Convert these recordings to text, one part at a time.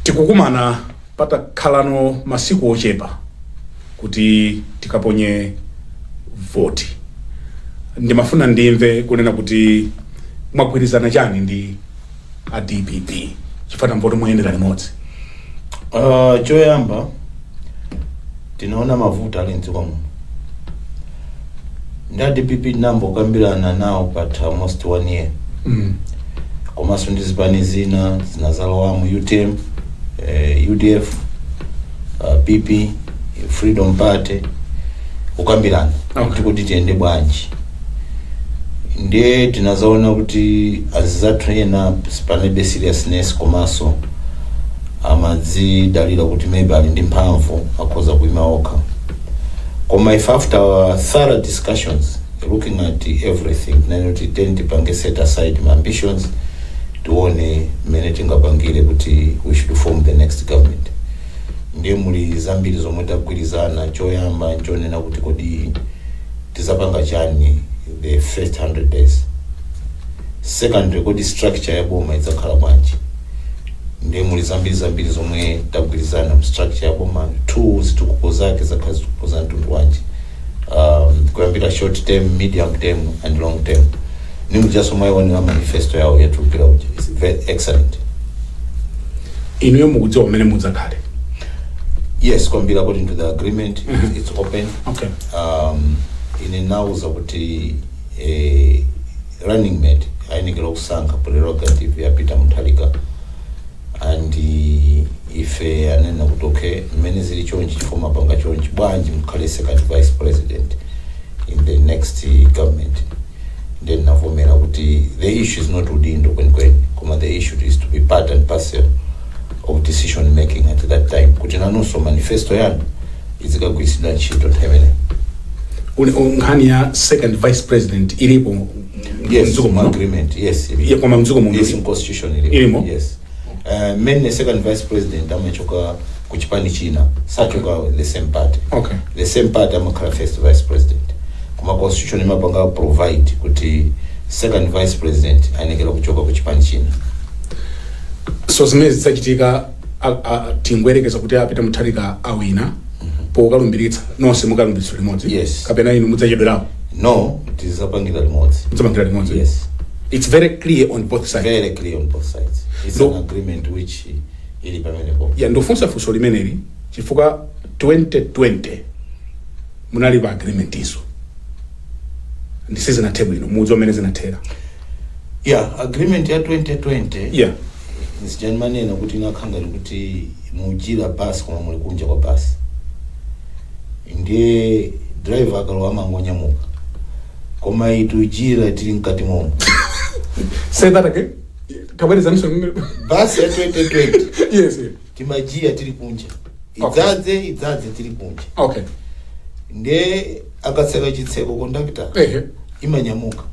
tikukumana patakhalano masiku ochepa kuti tikaponye voti ndimafuna ndimve kunena kuti mwagwirizana chani ndi a dpp chifukwa tamva kuti muyendera limodzi Uh, choyamba tinaona mavuto ali mdziko muno ndi a dpp tinambokambirana nawo patha almost one year Mm. komanso ndi zipani zina zinazalowamo utm eh, udf uh, pp freedom party kukambirana Okay. kuti tiyende bwanji ndiye tinazaona kuti anzathu ena panalibe seriousness komanso amadzidalira kuti maybe ali ndi mphamvu akhoza kuima okha koma if after our thorough discussions looking at everything ndinati tipange set aside my ambitions tione mmene tingapangire kuti we should form the next government ndiye muli zambiri zomwe tagwirizana choyamba nchonena kuti kodi tizapanga chani the first 100 days secondly kodi structure ya boma idzakhala bwanji ndiye muli zambiri zambiri zomwe tagwirizana mu structure ya boma two zitukuko zake zizakhala zitukuko za mtundu wanji um, kuyambira short term medium term and long term ndi mujanso mwaionera manifesto yawo yatuluka ija it's very excellent inuyo mukudziwa kumene mudzakhale yes kwambiri according to the agreement it's, it's open okay um, ine anandiuza kuti eh, running mate ayenekera kusankha prerogative ya peter mutharika and eh, ife anena kuti okay mmene zili chonchi chifukwa mwapanga chonchi bwanji mukhale second vice president in the next eh, government ndiye ndinavomera kuti the issue is not udindo kwenikweni koma the issue is to be part and parcel of decision making at that time kuti nanunso manifesto yanu izikagwiritsidwa ntchito nthawi imeneyi Uli- u- nkhani ya second vice president ilipo yes mdziko mu muno agreement yes Yeah, koma mdziko muno yes in constitution ilimo. yes Eh, mmene second vice president amachoka ku chipani china sachoka the same party Okay. the same party amakhala first vice president koma constitution imapanga provide kuti second vice president ayenekera kuchoka ku chipani china so zimene zidzachitika a- a- tingoyerekeza kuti a peter mutharika awina pokalumbiritsa nonse mukalumbiritsa limodzi Yes. kapena inu mudzachedwerapo no tizapangira limodzi mudzapangira limodzi yes it's very clear on both sides very clear on both sides it's No. an agreement which ili pamenepo ya ndikufunsa funso limeneli chifukwa 2020 munali pa agreement izo ndiye sizinathe bwino mudziwa mmene zinathera yeah agreement ya 2020 yeah nsija ndimanena kuti inakhala ngati kuti mujira basi koma muli kunja kwa basi ndiye driver akalowa amangonyamuka koma iyi tujira tili mkati momo Say that again. Tabwerezaninso. basi ya 2020 Yes. yes. timajira tili kunja Okay. idzadze idzadze tili kunja Okay. nde akatseka chitseko kondakitala Ehe. imanyamuka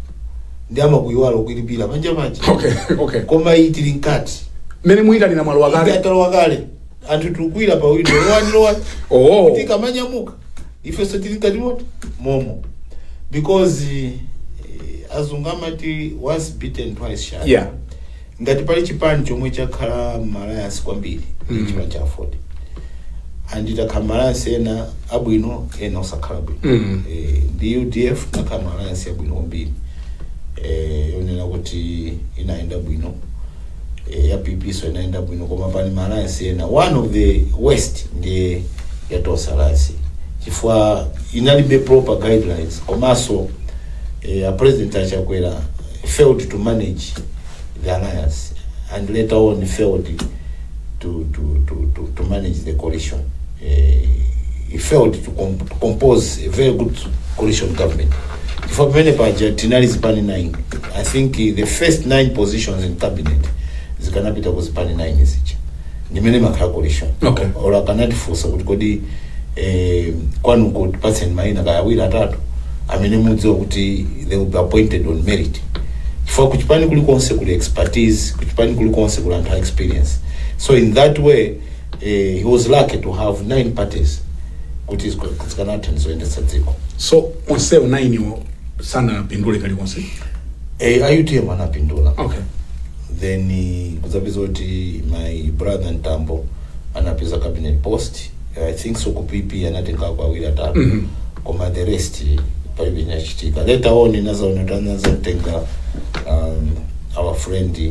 nde amakuyiwala kuilipira panja paja Okay. Okay. koma iyi tili mkati Mene muyitanira malowa kale. talowa kale anthu tikukwira pa windo lowani lowani Oh. kuti ikamanyamuka ifenso tili mkati mot- momo because eh, azungu amati once bitten twice shy Yeah. ngati pali chipani chomwe chakhala mma alliance kwambiri Mm. mm. chipani cha aford and takhala mma alliance ena abwino ena osakhala bwino Mm. eh, ndi udf tinakhala mma alliance abwino kwambiri eh, yonena kuti inayenda bwino eh, ya pp so inayenda bwino koma pali ma alliance ena one of the worst ndiye ya tonse alliance chifukwa inalibe proper guidelines komanso eh, a president a chakwera failed to manage the alliance and later on failed to, to, to, to, to manage the coalition he failed to, com to compose a very good coalition government chifukwa pamene paja tinali zipani 9 i think the first 9 positions in cabinet zikanapita ku zipani 9 zija ndimene imakhala coalition Okay. or akanatifunsa kuti kodi eh, kwanuko tipatseni maina kaya awiri atatu amene mudziwa kuti they will be appointed on merit chifukwa kuchipani kulikonse kuli expertise kuchipani kulikonse kuli anthu a experience so in that way eh, he was lucky to have nine parties kuti zika- zikanatha izo kuyendetsa dziko so onsewo nainiwo sanapindule kalikonse eh, a utm anapindula okay then eh, kudzapeza kuti my brother mtambo anapeza cabinet post i think so ku pp anatengako awiri atatu Mhm. koma the rest eh, palibe chinachitika later on inazaona kuti anazatenga um, our friend eh,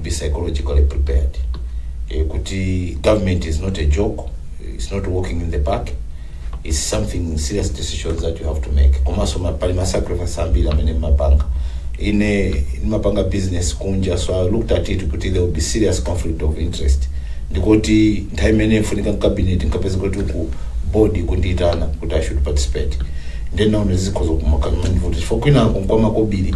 be psychologically prepared eh, kuti government is not a joke it's not walking in the park it's something serious decisions that you have to make komanso ma- pali ma sacrifice ambiri amene umapanga ine ndimapanga business kunja so i looked at it kuti there will be serious conflict of interest ndikuti nthawi imene ndifunika mcabinet nkupeza kuti ku board akundiitana kuti i should participate ndenaona zikhoza kumakandivuta chifukwa kwinako nkwamakobiri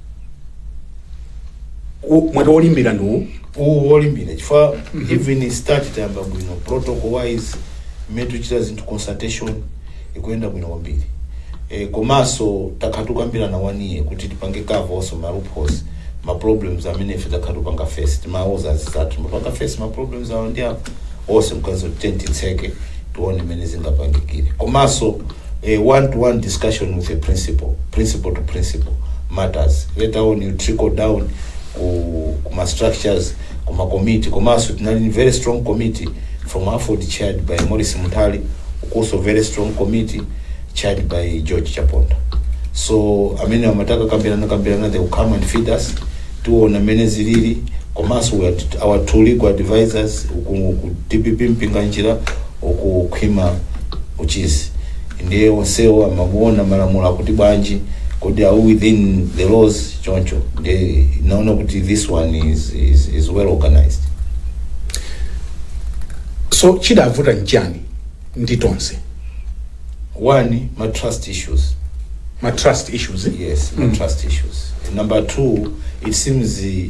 U- mwati olimbira ndi wolimbira chifukwa even start tayamba bwino protocol wise mmene tikuchita zinthu consultation ikuyenda bwino kwambiri e, komanso takhala tikukambirana wanuye kuti tipange cover also ma loopholes ma problems amene ife takhala tikupanga face timauza anzathu timapanga face ma problems awo ndi apo also nkati tenti tseke tione mmene zingapangikire komanso A one to one discussion with a principal, principal to principal matters. Later on you trickle down ku, ku ma structures, ku ma committee, komanso tinali ni very strong committee from Aford chaired by Morris Mutali, also very strong committee chaired by George Chaponda. So amene amataka kambirana kambirana they will come and feed us tiona mene zilili komanso we are- our two legal advisors uku ku DPP mpinganjira uku khwima uchizi ndiye onsewa amaona malamulo akuti bwanji kodi are we within the laws choncho ndiye naona kuti this one is well organized so chidavuta nchani ndi tonse one ma trust issues ma trust issues yes ma trust issues number two it seems eh,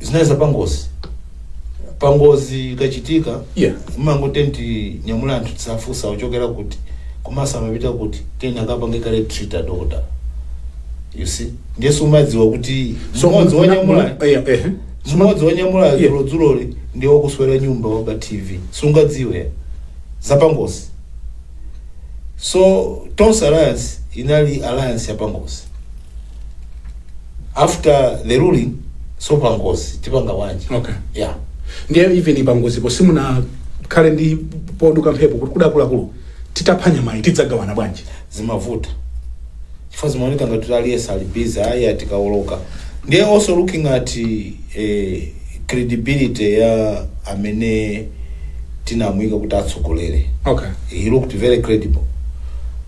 zinali za pangozi pangozi ikachitika Yeah. mumangoti nyamula anthu osafunsa akuchokera kuti komanso amapita kuti kuti ena akapange kaye treat adota you see ndiyeso umadziwa kuti So, mmodzi muna- wanyamula muna- eh, eh. mmodzi wanyamula Yeah. dzulodzuloli ndi wakuswera nyumba waba tv sungadziwe zapangozi so tonse alliance inali alliance yapangozi after the ruling so pangozi tipanga bwanji Okay. yeah ndiye even pangozipo simunakhale ndi poduka mphepo kuti akuluakulu tikapha nyamayi tidzagawana bwanji zimavuta chifukwa zimaoneka ngati kuti aliyense ali busy ayi atikawoloka ndiye also looking at eh, credibility ya amene tinamuyika kuti atsogolere okay he looked very credible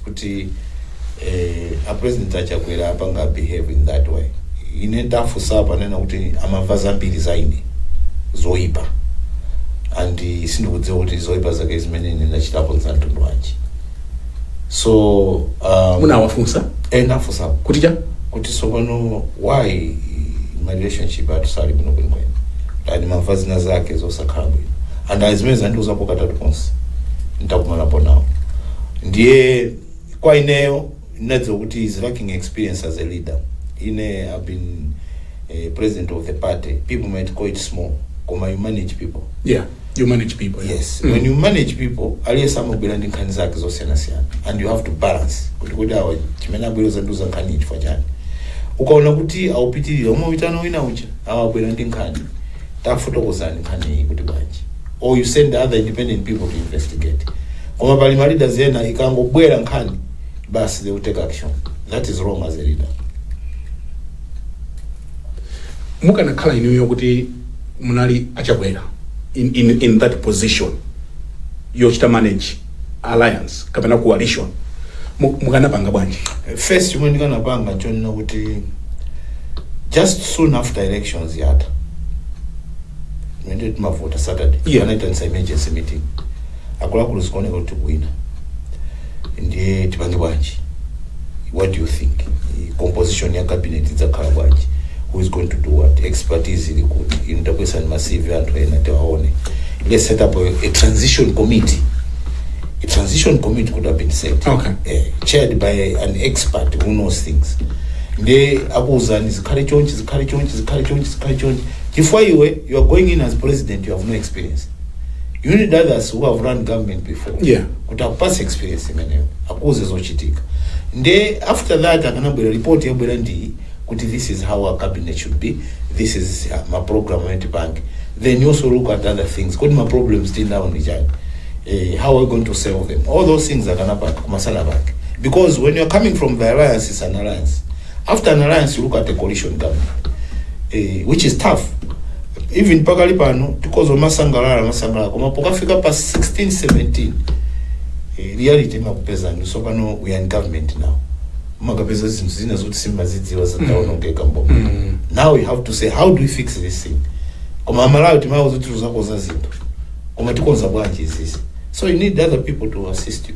kuti eh, a president a Chakwera apanga behave in that way ine nditafunsa apo ananena kuti amamva zambiri za ine zoyipa and sindikudziwa kuti zoyipa zake zimene ine ndachitapo za mtundu wanji so um, munawafunsa eh, ndafunsa kuti cha kuti sopano why ma relationship athu sali bwino kwenikweni and amamva zina zake zosakhala bwino and zimenezo andiuzapo katatu konse ntakumanapo nawo ndiye kwa ineyo ndinadziwa kuti he's lacking experience as a leader ine I've been eh, president of the party people might call it small koma you manage people yeah you manage people yeah. yes when you manage people aliyense amabwera ndi nkhani zake zosiyanasiyana and you have to balance kuti kodi awa chimene abwera kudzandiuza nkhani chifukwa chani ukaona kuti akupitirira umawitana wina uja awabwera ndi nkhani tafotokozani nkhani iyi kuti bwanji or you send other independent people to investigate koma pali ma leaders ena ikangobwera nkhani basi they will take action that is wrong as a leader mukanakhala inuyo kuti munali a Chakwera in, in, in that position yochita manage alliance kapena coalition mu- mukanapanga bwanji first chomwe ndikanapanga chonena kuti just soon after elections yatha ndiye timavota saturday Yeah. naitanitsa emergency meeting akuluakulu zikuoneka kuti tikuwina ndiye tipange bwanji what do you think I- composition ya cabinet izikhala bwanji who is going to do what expertise ili kuti inu tapezani ma cv anthu ena tiwaone let's set up a, a transition committee a transition committee could have been set Okay. eh, chaired by an expert who knows things nde akuwuzani zikhale chonchi zikhale chonchi zikhale chonchi zikhale chonchi chifukwa iwe you are going in as president you have no experience you need others who have run government before Yeah. kuti akupase experience imeneyo akuuze zochitika nde after that akanabwera report yabwera ndi kuti this is how our cabinet should be this is uh, ma program amene tipange then you also look at other things kodi ma problems tili nawo ndi chani eh, how are we going to solve them all those things akanapanga kumatsala pake because when you're coming from the alliance is an alliance after an alliance you look at the coalition government eh, which is tough even pakali pano tikhoza kumasangalala kumasangalala koma pokafika pa 16 17 eh, reality imakupezani zoti pano we are in government now umakapeza zinthu zina zoti simumazidziwa zidaonongeka mboma Mm. now we have to say how do we fix this thing koma amalawi timawauza kuti tidzakonza zinthu koma tikonza bwanji zimenezi so you need other people to assist you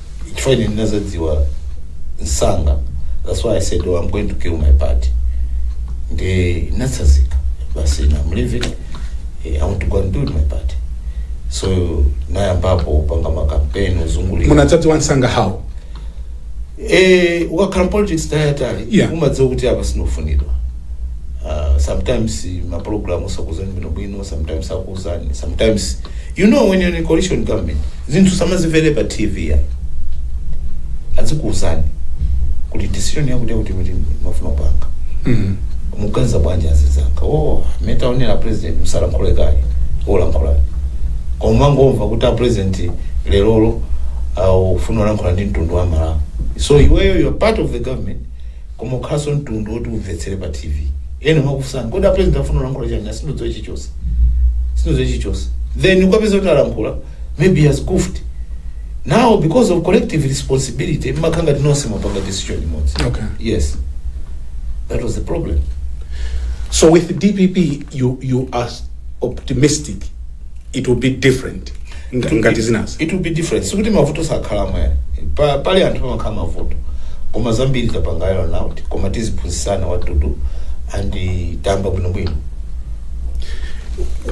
chifukwa ine ndinadzadziwa msanga that's why i said oh, i'm going to build my party nde ndinatsazika basi na i'm leaving eh, i want to go and build my party so nayambapo kupanga makampeni kuzungulira munadzadziwa msanga how eh ukakhala mpolitics nthawi yaitali Yeah. umadziwa kuti apa sindikufunidwa uh, sometimes maprogramu sakuuzani bwinobwino sometimes akuuzani sometimes you know when you're in a coalition government zinthu sumazimvera pa tv ayi azikuuzani kuti decision yakuti kuti kuti tikufuna kupanga Mhm. mukuganiza bwanji azinzanga oh mwinatu a president musalankhule kaye osalankhula koma mangomva kuti a president lerolo uh, akufuna kulankhula ndi mtundu wa malawi so iweyo you're part of the government koma ukhalanso mtundu woti umvetsere pa tv ena amakufunsani kodi apresident akufuna kulankhula chani "Ah, sindikudziwa chilichonse sindikudziwa chilichonse then ukapeza kuti alankhula maybe he has goofed now because of collective responsibility mmakhala ngati nonse mwapanga decision imodzi Okay. yes that was the problem So with DPP, you you are optimistic it will be different nga- ngati zinazi it will be different sikuti mavuto sakhalamo yani pa, pali anthu pamakhala mavuto koma zambiri tapangayo now koma tiziphunzisana what to do and eh, tayamba bwinobwino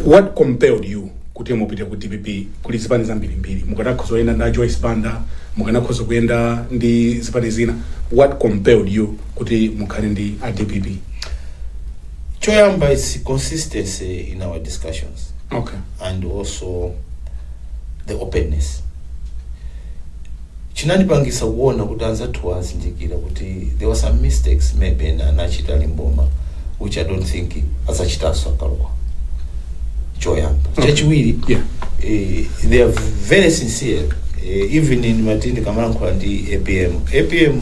what compelled you kuti mupite ku dpp kuli zipani zambirimbiri mukanakhoza kuyenda ndi a joyce banda mukanakhoza kuyenda ndi zipani zina what compelled you kuti mukhale ndi a dpp choyamba its consistency in our discussions okay and also the openness chinandipangisa kuona kuti anzathuwa azindikira kuti there were some mistakes maybe ena anachita limboma which i don't think azachitanso akalowa choyamba Okay. chachiwiri Yeah. eh, they are very sincere eh, even in mmene ndikamalankhula ndi apm apm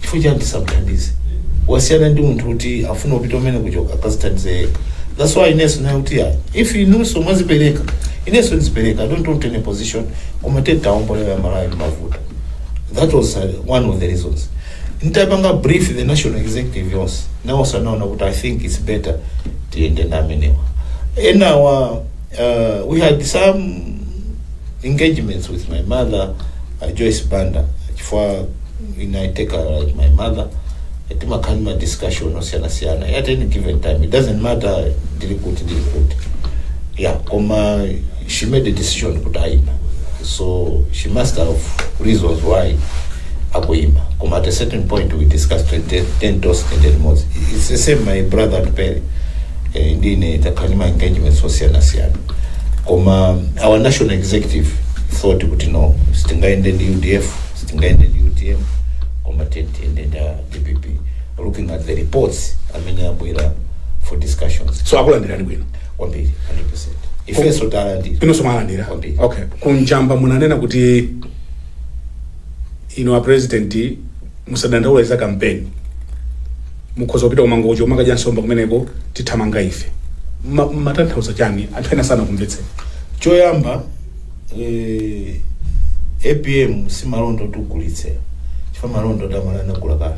chifukwa chani tisamthandize wasiyana ndi munthu kuti afuna kupita mmene kuchoka akazithandize yekha that's why inenso naye kuti ya if inunso mwazipereka inenso ndizipereka i don't want any position koma titaombola amalawi mavutowa that was uh, one of the reasons ntapanga brief the national executive yonse nawonso anaona kuti i think its better tiyende ndi amenewa enawa uh, we had some engagements with my mother uh, Joyce Banda chifukwa ina I take her like my mother timakhala ndi ma discussion osiyana siyana at any given time it doesn't matter ndili kuti ndili kuti yeah koma she made a decision kuti ayima so she must have reasons why akuyima koma at a certain point we discussed ten, ten, ten toes and ten moves it's the same my brother Atupele eh, ndiye takhala ndi ma engagements osiyanasiyana koma our national executive thought kuti no sitingayende ndi udf sitingayende ndi utm koma tiyende ndi dpp looking at the reports amene amabwera for discussions so akulandirani bwino kwambiri 100% ifenso talandira inonso mwalandira Kwambiri. okay kunjamba munanena kuti ino a president musadandaula za kampeni Mukhoza kupita ku Mangochi kumakadya nsomba kumeneko tithamanga ife. Mma- Mmatanthauza chani? Anthu ena sanakumvetseni. choyamba eh, apm si malonda kuti ugulitse chifukwa malonda oti amalawi anagula kale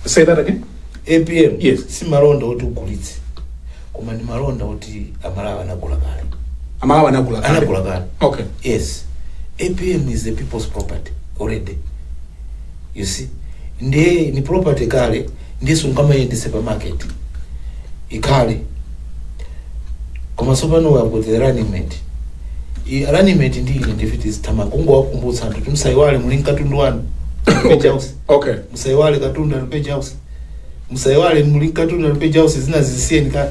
Say that again. apm Yes. si malonda oti ugulitse koma ndi malonda oti amalawi anagula kale Amalawi anagula kale. anagula kale Okay. yes apm is the people's property already you see ndiye ni property kale ndiye sungamayendese pa market ikale koma tsopano we have got the running mate I- running mate ndi ine ndifeyo tizitamangokawakumbutsa anthu kuti musayiwale muli ndi katundu wanu okay okay musayiwale katundu wanu page house musayiwale muli ndi katundu wanu page house zina zisiyeni kale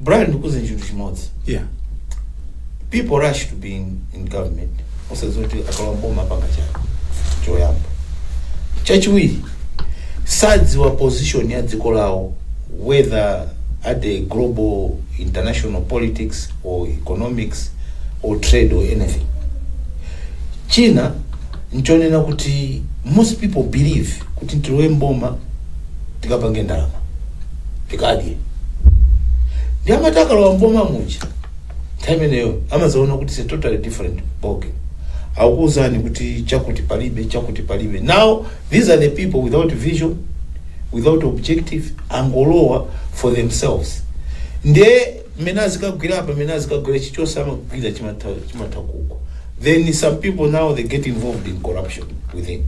Brian ndikuze chinthu chimodzi yeah people rush to be in, in government osadziwa kuti akalowa m'boma apanga chani choyamba chachiwiri sadziwa position ya dziko lawo whether at the global international politics or economics or trade or anything china nchonena kuti most people believe kuti tilowe mboma tikapange ndalama tikadye nde amati akalowa mboma muja nthawi imeneyo amazaona kuti it's a totally different ballgame akuuzani kuti chakuti palibe chakuti palibe now these are the people without vision without objective angolowa for themselves nde mmene azikagwira apa mmene azikagwira chichonse amagwira chimatha kugwa then some people now they get involved in corruption within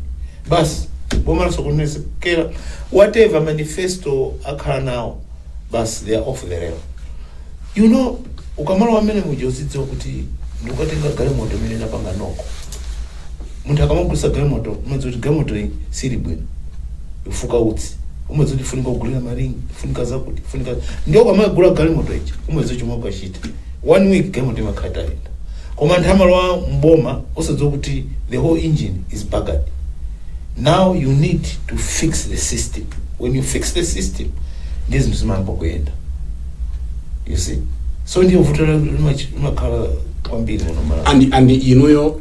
basi boma lasokonekera whatever manifesto akhala nawo basi they are off the rail you know ukamalowa mmene muja uzidziwa kuti ndikukatenga galimoto imene inapanga noko munthu akamagulitsa galimoto umadziwa kuti galimoto iyi sili bwino ifuka utsi umadziwa kuti ifunika kugulira maringi ifunika zakuti ifunika ndiye ukamagula galimoto ija umadziwa chomwe ukuchita one week galimoto imakhala itayenda koma anthu amalowa mboma osadziwa kuti the whole engine is buggered now you need to fix the system when you fix the system ndiye zinthu zimayamba kuyenda you see so ndiye vuto la- limachi- limakhala kwambiri muno mMalawi and and inuyo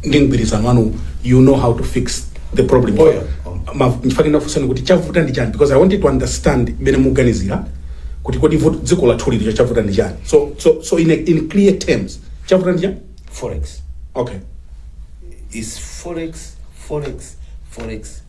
ndi mgwirizano wanu you know how to fix the problem Oh, yeah. Oh. Ma- nchifukwa chake ndakufunsani kuti chavuta ndi chani because i wanted to understand mene muganizira kuti kodi vuto- dziko lathu lili cho chavuta ndi chani so so so in, a, in clear terms chavuta ndi chani forex okay is forex forex forex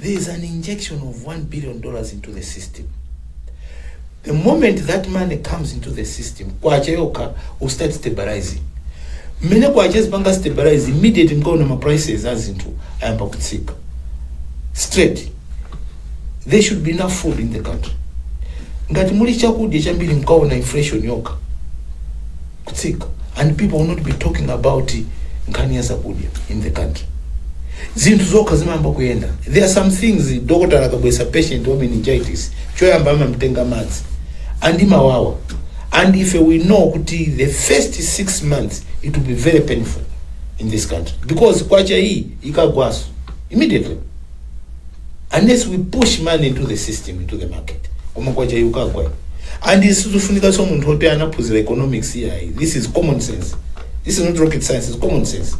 there is an injection of 1 billion dollars into the system the moment that money comes into the system kwacha yokha will start stabilizing mmene kwacha izipanga stabilize immediate mkaona ma prices a zinthu ayamba kutsika straight there should be enough food in the country ngati muli chakudya chambiri mkaona inflation yokha kutsika and people will not be talking about nkhani ya zakudya in the country zinthu zokha zimayamba kuyenda there are some things dokotala akabweretsa patient wa meningitis choyamba amamtenga madzi and imawawa and ife we know kuti the first six months it will be very painful in this country because kwacha iyi ikagwaso immediately unless we push money into the system into the market koma kwacha yukagwa and isizufunika so munthu oti anaphunzira economics yayi this is common sense this is not rocket science it's common sense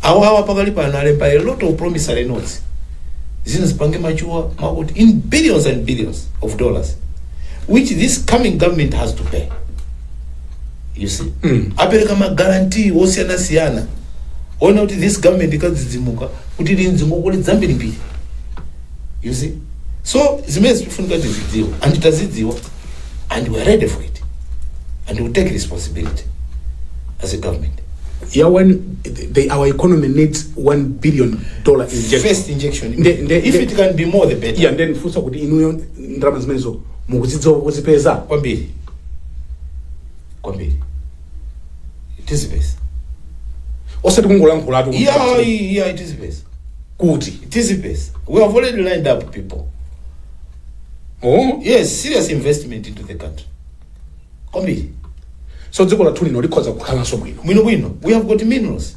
awo awa pakali pano alemba a lot of promissory notes zino zipange machuwa makuti in billions and billions of dollars which this coming government has to pay you see apereka ma guarantee osiyanasiyana moti this government ikadzidzimuka kuti ili ndi ngongole zambirimbiri you see so zimene zikufunika tizidziwa and tazidziwa and we are ready for it and we take responsibility as a government ya when the, our economy needs one billion dollar injection first injection Nde- nde- if nde- it can be more the better yeah, nde ndifunsa kuti inuyo ndalama zimenezo mukuzidziwa kozipeza kwambiri kwambiri it is best osati kungolankhulatu yeah yeah it is best kuti it is best we have already lined up people oh yes serious investment into the country kwambiri so dziko lathu lino likhoza kukhalanso bwino bwino bwino we have got minerals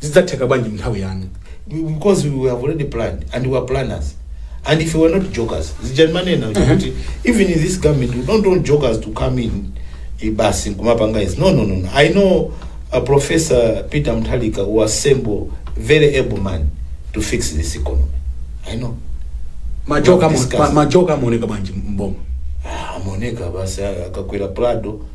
zidzatheka bwanji mnthawi yanu because we have already planned and we are planners and if we were not jokers zija manena kuti even in this government we don't want jokers to come in eh, basi kumapanga izi no no no no. i know uh, professor peter mtalika who assemble very able man to fix this economy i know majoka Discuss. majoka amaoneka bwanji mboma Ah, amaoneka basi akakwera prado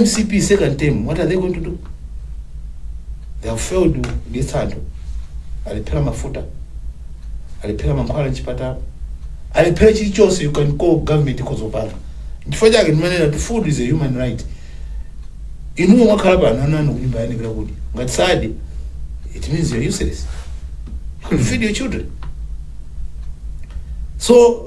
mcp second term what are they going to do they have failed kudyetsa anthu alephera mafuta alephera mankhwala mchipatala alephera chilichonse you can call government kozopanga chifukwa chake ndimanena kuti food is a human right inuwo mwakhala pano ana anu kunyumba ayenera kudya ngati sadye it means you're useless you feed your children so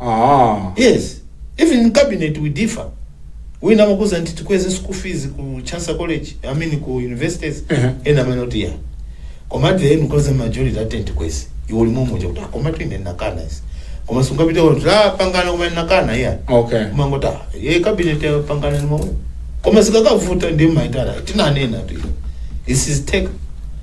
Ah. Yes, even in cabinet we differ. Wina amakuuza kuti tikweze school fees ku Chancellor College, I mean ku universities. Mhm. Ena amene kuti ya. Koma at the end because the majority ati tikweze. Iwe uli momo kuti komatu ine ndakana izi. Koma sungapite kuti tapangana koma ine ndakana ya. Okay. Koma umangoti ee cabinet yapangana ndi momo. Koma zikakavuta ndimaitana. Tinanenatu. This is take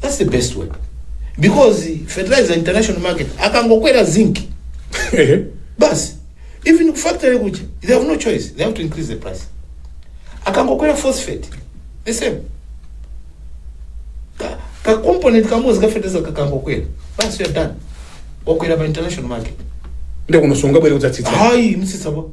That's the best way. Because fertilizer international market akangokwera zinc. Basi. Even factory kuja, they have no choice. They have to increase the price. Akangokwera phosphate. The same. Ka, ka component kamodzi ka fertilizer kakangokwera. Basi you are done. Wakwera pa international market. ndiye kunoso ungabwere kudzatsitsa Hayi utsitsa bo.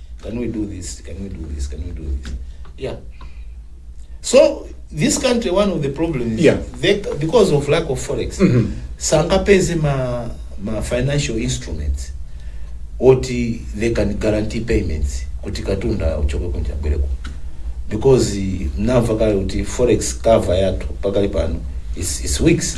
can we do this can we do this can we do this yeah so this country one of the problems is Yeah. they, because of lack of forex sangapeze ma, ma financial instruments oti they can guarantee payments kuti katunda uchoke kunja bwereko because eh, mnamva kale kuti forex cover yathu pakali pano is, is weeks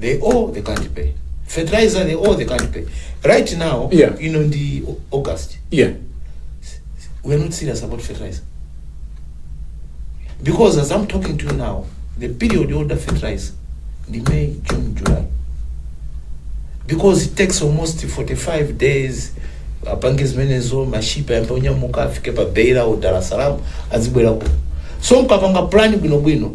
they owe they can't pay fertilizer they owe they can't pay right now Yeah. you know ndi O- august yeah we are not serious about fertilizer because as i'm talking to you now the period you order fertilizer the may june july because it takes almost 45 days apange zimenezo mashipa yambe onyamuka afike pa beira or dar es salaam azibwerako so mkapanga plan bwinobwino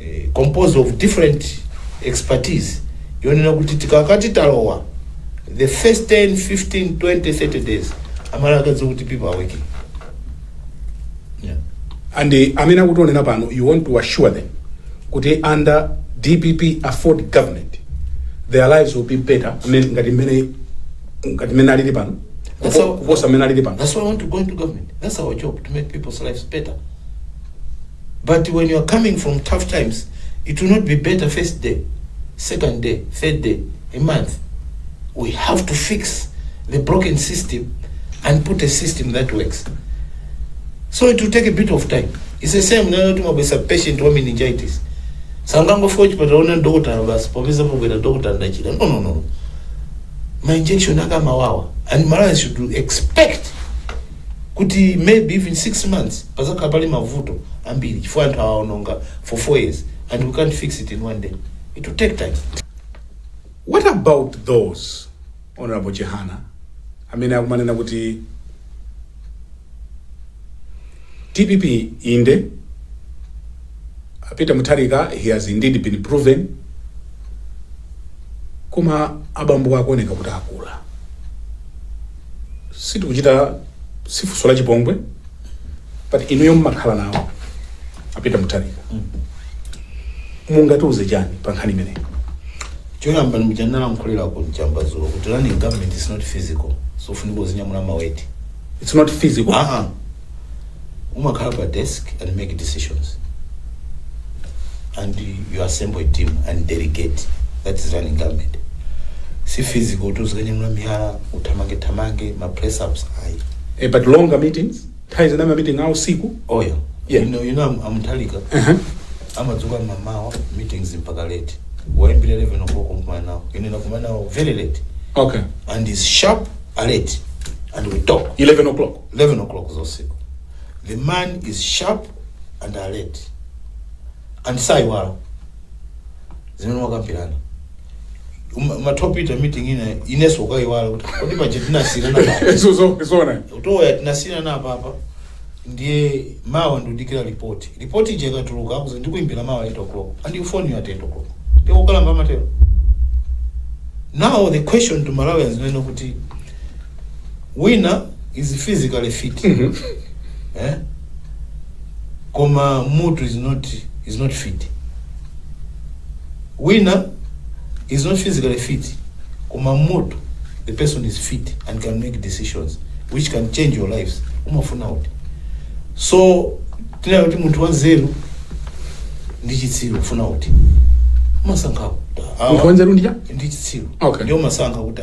eh, composed of different expertise yonena kuti tikakati talowa the first 10 15 20 30 days amala akadziwa kuti people are working yeah. and eh, amene akutionera pano you want to assure them kuti under dpp afford government their lives will be better men- ngati mmene ngati mmene alili pano That's how- kuposa mmene alili pano That's why I want to go into government. That's our job to make people's lives better. but when you are coming from tough times it will not be better first day second day third day a month we have to fix the broken system and put a system that works so it will take a bit of time it's the same nayo timabwesa patient wa meningitis sangangofika chipatala ona ndokotala basi popeza pobwera dokotala ndachita no no no ma injection akamawawa and malawi should expect kuti maybe even 6 months padzakhala pali mavuto ambiri chifukwa anthu aononga for 4 years and we can't fix it in one day it will take time What about those Honorable Chihana amene akumanena kuti DPP inde a Peter Mutharika he has indeed been proven koma abambowa akuoneka kuti akula sitikuchita si funso la chipongwe but inuyo mmakhala nawo a Peter Mutharika mungatiuze chani pa nkhani imeneyi choyamba ndi muja ndinalankhulira ku Njamba dzulo kuti running government is not physical zofunika uzinyamula ma weight it's not physical Ah, ah. umakhala pa desk and make decisions and you assemble a team and delegate that is running government si physical kuti uzikanyamula miyala uthamange thamange ma press ups ayi Eh, but longer meetings nthawi zina ma meeting awo siku oyo Yeah. you know, you know I'm, I'm Mutharika uh-huh. amadzuka mamawa meetings mpaka late waimbira 11 o'clock kumkumana nawo ine nakumana nawo very late okay and is sharp alert and we talk 11 o'clock 11:00 za usiku the man is sharp and alert and saiwala zimene mwakambirana Uma- umatopita meeting ina iweso ukaiwala kuti kodi paja tinasiyirana apapa Izo zo zona. kuti eya tinasiyirana apapa ndiye mawa ndikudikira ripoti ripoti ija ikatuluka akuuza ndikuimbira mawa 8 o'clock and he'll phone you at 8 o'clock ndiye ukalamba matero now the question to malawians is yoti kuti wina is physically fit eh? koma mutu is not, is not fit wina is not physically fit koma mutu the person is fit and can make decisions which can change your lives umafuna uti so tinena kuti munthu wanzeru ndi chitsiru ufuna uti umasankhawo munthu wanzeru ndi chitsiru Okay. ndiye umasankha uti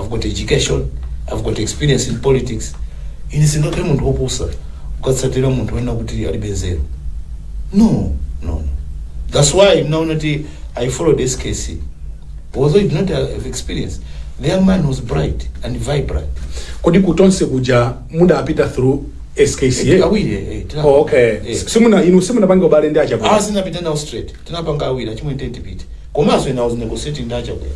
I've got education, I've got experience in politics. Ine sindingakhale munthu wopusa kukatsatira munthu wonena kuti alibe nzeru. No, no. That's why munaona kuti I followed SKC. Although he did not have experience, the young man was bright and vibrant. kodi kutonse kuja mudapita through SKC Awiri, eh, eh, tira- oh, okay eh. simuna inu simunapange ubale ndi achakwera Ah, sinapita nawo straight. tinapanga awiri achimwene tiyeni tipite komanso ine i was negotiating ndi achakwera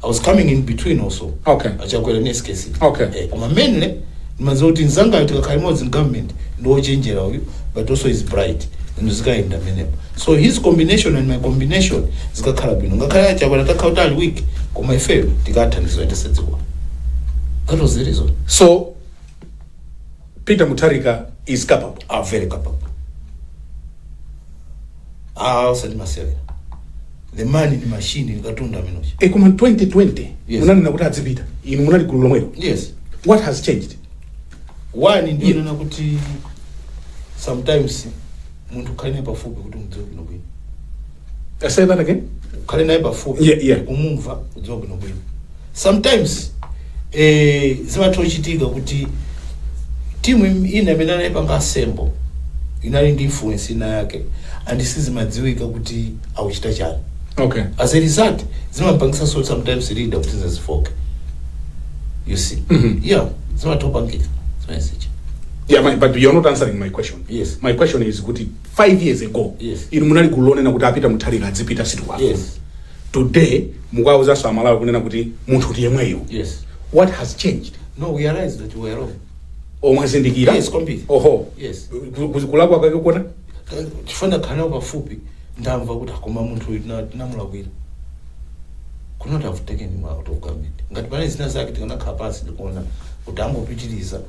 i was coming in between also Okay. achakwera ndi skc Okay. eh, koma mainly ndimadziwa kuti mzangayo tikakhala limodzi in government ndi wochenjera uyu but also he's bright and zikayenda pamenepo so his combination and my combination zikakhala bwino ngakhale achakwera atakhala kuti ali weak koma ifeyo tikathandiza kuyendetsa dziko that was the reason so Peter Mutharika is capable. Ah, very capable. Ah, usati masewera. The man ndi machine, ndi katundu ameneyo. E koma 2020 Yes. munanena kuti adzipita. Inu munali gulu lomwelo. Yes. What has changed? One ndi yonena kuti sometimes munthu khala naye pafupi kuti mudziwe bwino bwino. Uh, say that again. ukhale naye pafupi Yeah, yeah. kumumva kudziwa bwinobwino sometimes eh, zimatha kuchitika kuti team im- ina imene anayipanga assemble inali ndi influence ina yake and sizimadziwika kuti akuchita chani Okay. as a result zimapangitsanso sometimes leader kuti azifooka you see Mhm. yeah zimatha kupangika zimenezo Yeah, my, but you're not answering my question. Yes. My question is kuti 5 years ago Yes. inu munali gulu lonena kuti a Peter Mutharika adzipita sitikuwafu Yes. today mukuwauzanso amalawi kunena kuti munthu ndi yemweyo Yes. what has changed No, we realized that we were wrong. oh mwazindikira Yes, kwambiri. oho Yes. Ku- ku- kulakwa kwake kuona chifukwa kukhala nawo pafupi ndamva kuti ah koma munthu uyu tina- tinamulakwira could not have taken him out of government ngati panali zina zake tikanakhala pansi ndikuona kuti angopitiriza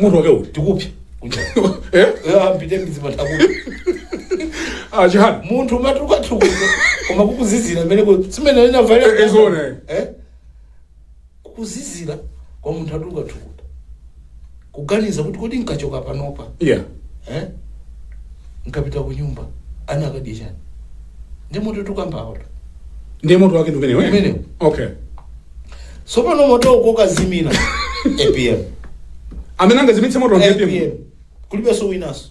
moto wake uti tikupsya Eh? ampite mizimataku Ah, Chihana munthu umatukutuku koma kukuzizira meneko simene Eh, eh, zoona, eh. inavae kukuzizira kwa munthu atukatukuta kuganiza kuti kodi nkachoka panopa yeah eh? nkapita ku nyumba ana akadya chani ndi moto tikukambawo ndiye moto wake ndi umenewo eh? Umenewo. okay Sopano moto ukakazimira. APM. amene angazimitse moto APM. APM. Kulibeso winanso.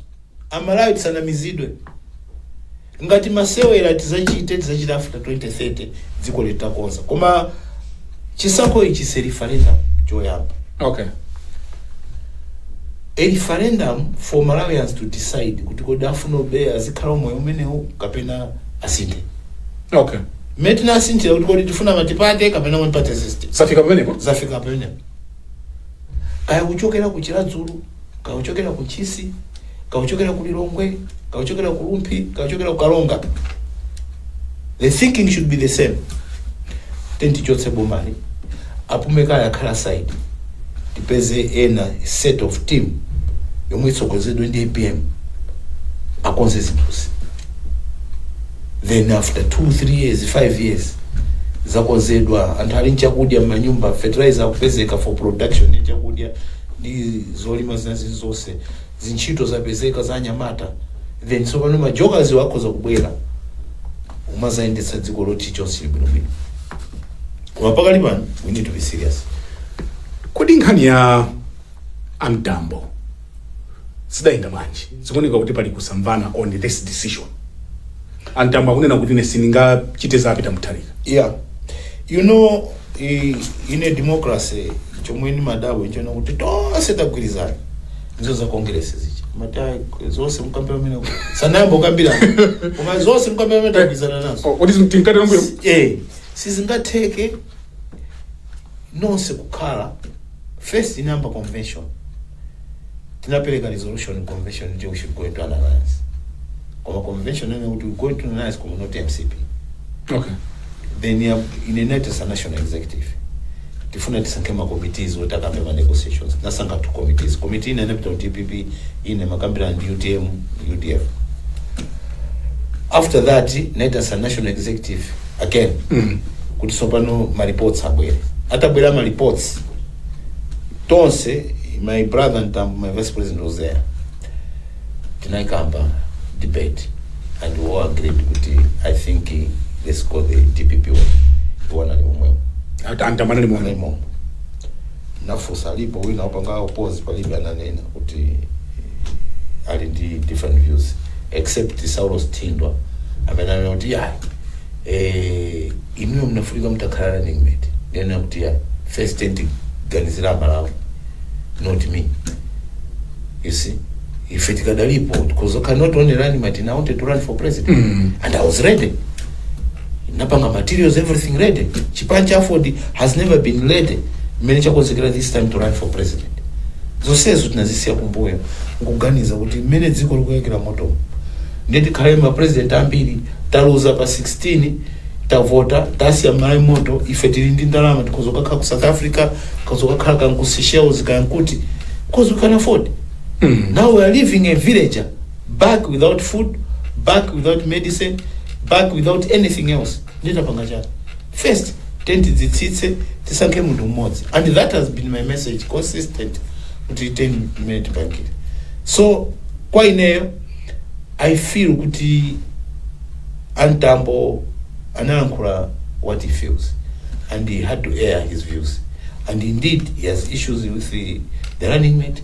Amalawi tisanamizidwe. Ngati masewera tizachite tizachita after 2030 dziko litakonzedwa. Koma chisankho ichi ndi referendum choyamba. okay a referendum for malawians to decide kuti kodi afuna obe azikhala umoyo umenewu kapena asinthe okay Mmene tinasinthira kuti kodi tifuna multiparty kapena one party system. Zafika pamenepo? Zafika pamenepo. Kaya kuchokera ku Chiradzulu, kaya kuchokera ku Ntchisi, kaya kuchokera ku Lilongwe, kaya kuchokera ku Rumphi, kaya kuchokera ku Karonga. The thinking should be the same. Tiyeni tichotse bomali. Apume kaye akhale aside tipeze ena set of team yomwe itsogozedwe ndi apm akonze zinthuzi then after 2 3 years 5 years zakonzedwa anthu ali nchakudya mmanyumba fertilizer akupezeka for production ya chakudya ndi zolima zinazi zonse zintchito zapezeka za anyamata then tsopano ma jokers wa akhoza kubwera kumazayendetsa dziko loti chonse bwinobwino koma pakali pano we need to be serious kodi nkhani ya amtambo zidayenda bwanji zikuoneka kuti pali kusamvana on this decision amtambo akunena kuti ine sindingachite za a Peter Mutharika yeah you know i- in a democracy chomwe nimadabwa nchonena kuti tonse tagwirizana izo za congress zija mati zonse nkuwombera mmanja musanayambe kukambira koma zonse nkuwombera mmanja tagwirizana nazo kodi tinkatera mbuyo eh sizingatheke nonse kukhala first inayamba convention tinapereka resolution convention ija we should go into an alliance koma convention inanena kuti we go into an alliance koma not mcp okay then ya inaitanitsa national executive tifuna tisankhe ma committees oti akambe ma negotiations inasankha two committees committee ina inapita ku dpp ina imakambirana ndi utm udf after that inaitanitsa national executive again kuti tsopano ma reports abwere atabwera ma reports tonse my brother Mtambo my vice president was there tinaikamba debate and we all agreed kuti i think eh, let's go the dpp way iwo anali momwemo A Mta- a Mtambo anali momwe- momwemo nafusa alipo wina opanga oppose palibe ananena kuti ali ndi different views except saulos thindwa amene ananena kuti ya eh, inuyo mnafunika mtakhala running mate ndinanena kuti ya first tiyeni tiganizire malawi not me you see ife tikadalipo because I cannot only running mate and I wanted to run for president and I was ready napanga materials everything ready chipani cha aford has never been ready mmene chakonzekera this time to run for president zonsezo tinazisiya kumbuyo nkuganiza kuti mmene dziko likuyakira motomo ndiye tikhale ma president ambiri taluza pa 16 tavota tasiya malawi moto ife tili ndi ndalama tikhoza kukakhala ku south africa tikhoza kukakhala kaya ku seychelles kaya kuti because we can afford now we are leaving a villager back without food back without medicine back without anything else ndiye tapanga chani first tiyeni tidzitsitse tisankhe munthu mmodzi and that has been my message consistent kuti tiyeni mmene tipangire so kwa ineyo i feel kuti amtambo analankhula what he feels and he had to air his views and indeed he has issues with the, the running mate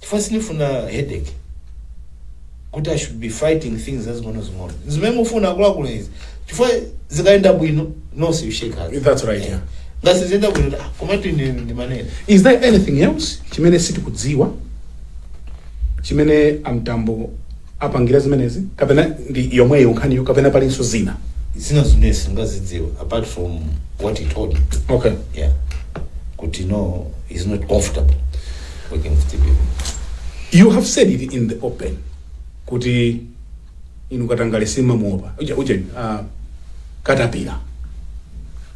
chifukwa sindifuna headache kuti i should be fighting things zazing'onozing'ono zimene mufuna akuluakulu izi chifukwa zikayenda bwino nonse you shake hands That's right, yeah. ngati siziyenda bwino ah, komatu ine ndimanena is there anything else chimene sitikudziwa chimene amtambo apangira zimenezi kapena ndi yomweyo nkhaniyo kapena palinso zina zina zimene singazidziwe apart from what he told me okay yeah kuti no he's not comfortable working with dpp you have said it in the open kuti inu katangale simamuopa uja uja uh, katapira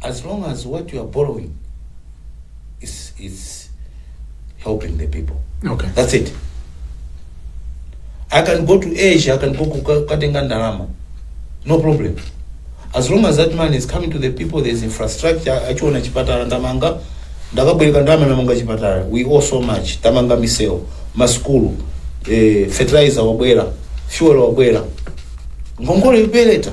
as long as what you are borrowing is, is helping the people okay that's it i can go to asia i can go kukatenga ndalama no problem as long as that money is coming to the people there is infrastructure achiona chipatala ndamanga ndakabwereka ndalama ndamanga chipatala we owe so much tamanga misewu masukulu eh, fertilizer wabwera fuel wabwera ngongole ipeleta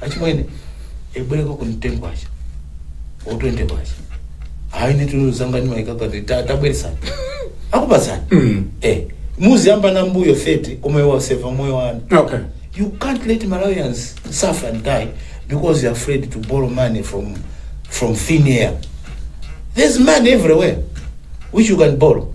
achimwene ndibwerekekoni 10 kwacha or 20 kwacha hayi nitulu zanga nimaikaga ndi ta- tabweresani akupasani Mm. eh muziyamba na mbuyo 30 koma iwe waseva moyo wa ana Okay. you can't let malawians suffer and die because you're afraid to borrow money from from thin air there's money everywhere which you can borrow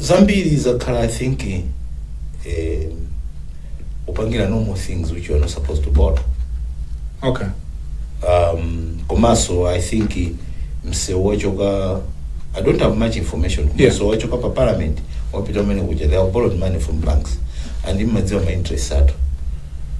zambiri zakhala i think eh, kupangira normal things which you are not supposed to borrow okay um, komanso i think msewu wachoka i don't have much information Yeah. msewu wachoka pa parliament wapita umene kuja they have borrowed money from banks and mmadziwa ma interest athu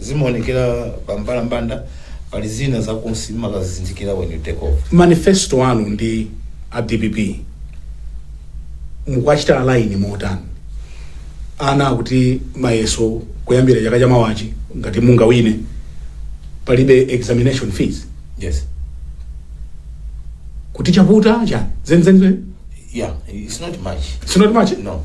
Zimaonekera pa mbalambanda pali zina zakunsi mmakazizindikira when you take over. Manifesto anu ndi a dpp mukuwachita align motani? Ana akuti mayeso kuyambira chaka chamawachi ngati mungawine palibe examination fees Yes. kuti chavuta chani zenizeni Yeah, it's not much. it's not much No.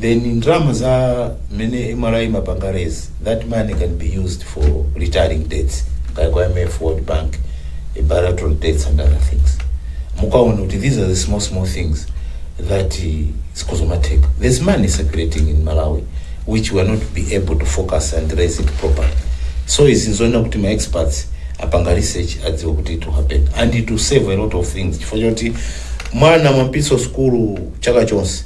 then ndalama za mmene mra imapanga raise that money can be used for retiring debts kaya kwa imf world bank eh, bilateral debts and other things mukaona kuti these are the small small things that eh, zikuzomatheka there's money circulating in malawi which we are not be able to focus and raise it properly so izi nzoona kuti ma experts apanga research adziwe kuti it will happen and it will save a lot of things chifukwa choti mwana mwapitso sukulu chaka chonse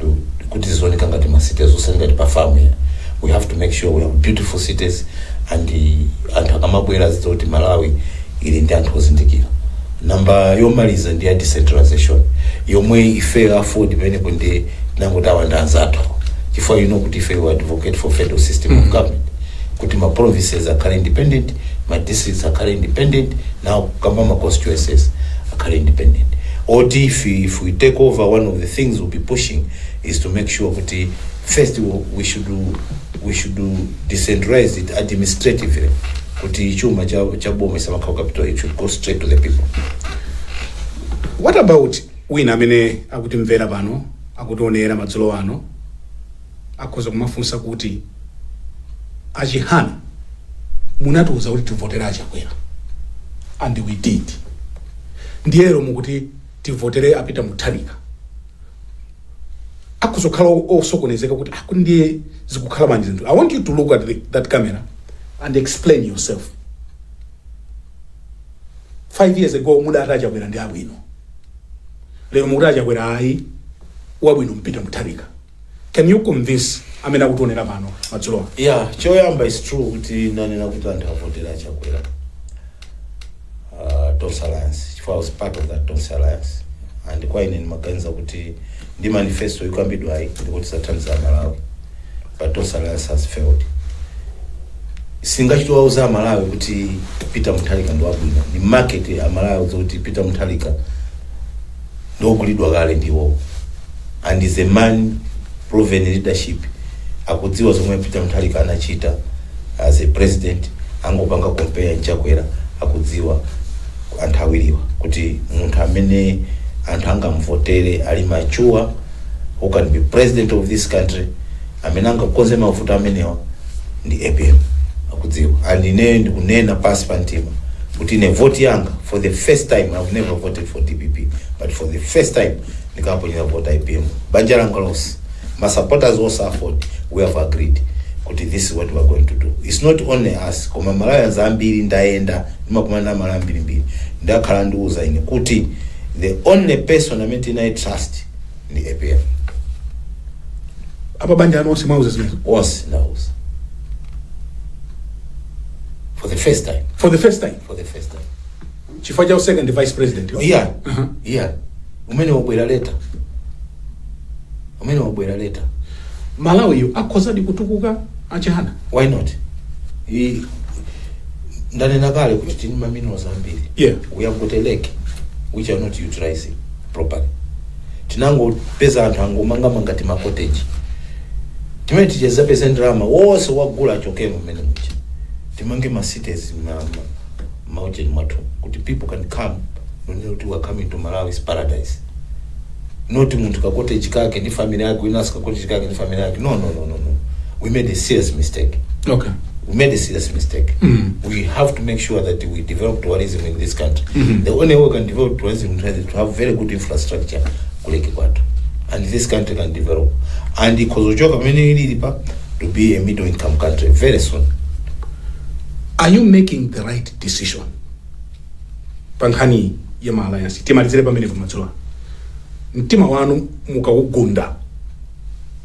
to kuti zizioneka ngati ma cities osati ngati pa farm yah we have to make sure we have beautiful cities and uh, anthu akamabwera azidziwa kuti malawi ili ndi anthu ozindikira namba yomaliza ndi ya decentralization yomwe ife aford pamenepo nde tinangoti awa ndi anzathu chifukwa you know kuti ife we advocate for federal system of government kuti ma provinces akhale independent ma districts akhale independent nanji kukamba ma constituencies akhale independent oti if, if we take over one of the things we'll be pushing is to make sure kuti first we- we should we should decentralize it administratively kuti chuma cha cha boma chisamakhale capital it should go straight to the people what about wina amene akutimvera pano akutionera madzulo ano Akhoza kumafunsa kuti a Chihana munatiuza kuti tivotere a Chakwera and we did. Ndiye lero mukuti tivotere a Peter Mutharika. Akhoza kukhala o- osokonezeka kuti ah, kuti ndiye zikukhala bwanji zinthu. I want you to look at the, that camera and explain yourself. Five years ago mudati a Chakwera ndi abwino. Lero mukuti a Chakwera ayi wabwino ndi Peter Mutharika can you convince amene akutionera pano madzulowa yah choyamba is true kuti nanena kuti anthu avotere chakwera uh, tonse alliance chifukwa I was part of that tonse alliance and kwa ine ndimaganiza kuti ndi manifesto ikambidwayi ndikuti ithandiza malawi but tonse alliance has failed sindingachite kuwauza amalawi kuti peter mutharika ndi wabwino ni market amalawi auza kuti peter mutharika ndiogulidwa kale ndi iwowo and he's a man proven leadership akudziwa zomwe peter mutharika anachita as a president angopanga compare nchakwera akudziwa anthu awiriwa kuti munthu amene anthu angamvotere ali mature who can be president of this country amene angakonze mavuto amenewa ndi apm akudziwa and ineyo ndikunena pasi pa mtima kuti ine voti yanga for the first time i've never voted for dpp but for the first time ndikaponyera vota apm banja langa lonse ma supporters onse aford we have agreed kuti this is what we are going to do it's not only us koma malawians ambiri ndayenda ndimakumana ndi amalawi ambirimbiri akhala akundiuza ine kuti the only person amene tinayi trust ndi APM apa banja anu onse mwauza zimenezo onse ndauza for the first time for the first time for the first time chifukwa cha u-second vice president iya Aha. iya umene wabwera leta umene wabwera leta malawiyo akhozadi kutukuka a Chihana why not I- ndanena kale kuti tili ndi maminerals ambiri Yeah. we have got a lake which are not utilizing properly tinangopeza anthu angomangamanga timakoteji timene tidzapeze ndalama onse agula achokemo mmene muja timange macities ma ujeni mwathu kuti people can come n'kunena kuti we are coming to malawi is paradise not munthu kakoteji kake ndi family yake winanso kakoteji kake ndi family yake no no no no no we made a serious mistake okay we made a serious mistake. We have to make sure that we develop tourism in this country. The only way we can develop tourism in Tanzania is to have very good infrastructure kuleke kwathu. And this country can develop. And ikozochoka pamene ilili pa to be a middle income country very soon. are you making the right decision pa nkhani ya ma alliance timalizire pamenepo madzulo ano. mtima wanu mukawugunda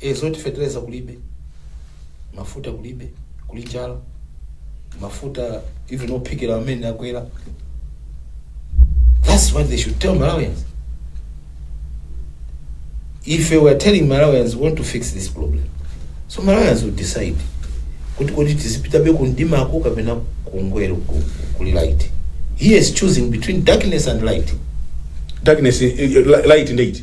e zoti feteleza kulibe mafuta kulibe kuli njala mafuta even ophikira amene akwera that's what they should tell malawians ife we are telling malawians we want to fix this problem so malawians will decide kuti kodi tizipitabe kumdimako kapena kungwe- ku- kuli light he is choosing between darkness and light darkness eh, eh, light ndiye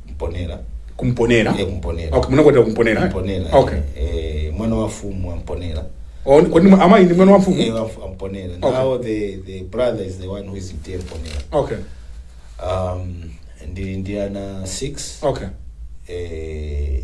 mponera kumponera Eya kumponera. okay munakwatira kumponera eh? mponera okay eh, mwana wa mfumu wa mponera Oh, kodi mwa- amayi ndi mwana wa Eh, mfumu wa mfu- wa mponera Okay. now the, the brother is the one who is TA mponera okay um, ndili ndi ana 6 okay eh,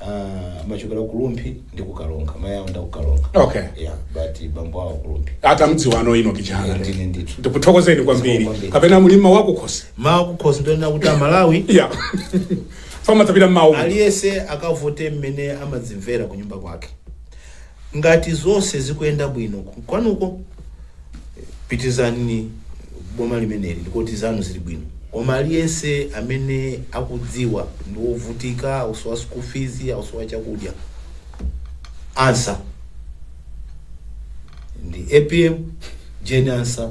Ah, ndimachokera ku Rumphi ndi ku Karonga. Mayi anga ndi aku Karonga. Okay. Yeah, but bambo awo ku Rumphi. atamdziwano Enock Chihana Ndine ndithu. ndikuthokozeni kwambiri Kwambiri. kapena muli mawu akukhosi Mawu akukhosi ndi onena kuti Amalawi ya pamene adzapita mmawa aliyese akavote mmene amadzimvera ku nyumba kwake Ngati zonse zikuyenda bwino kwanuko pitilizani boma limeneli ndikoti zanu zili bwino koma aliyense amene akudziwa ndiwovutika akusowa school fees akusowa chakudya answer ndi APM Jane Ansah.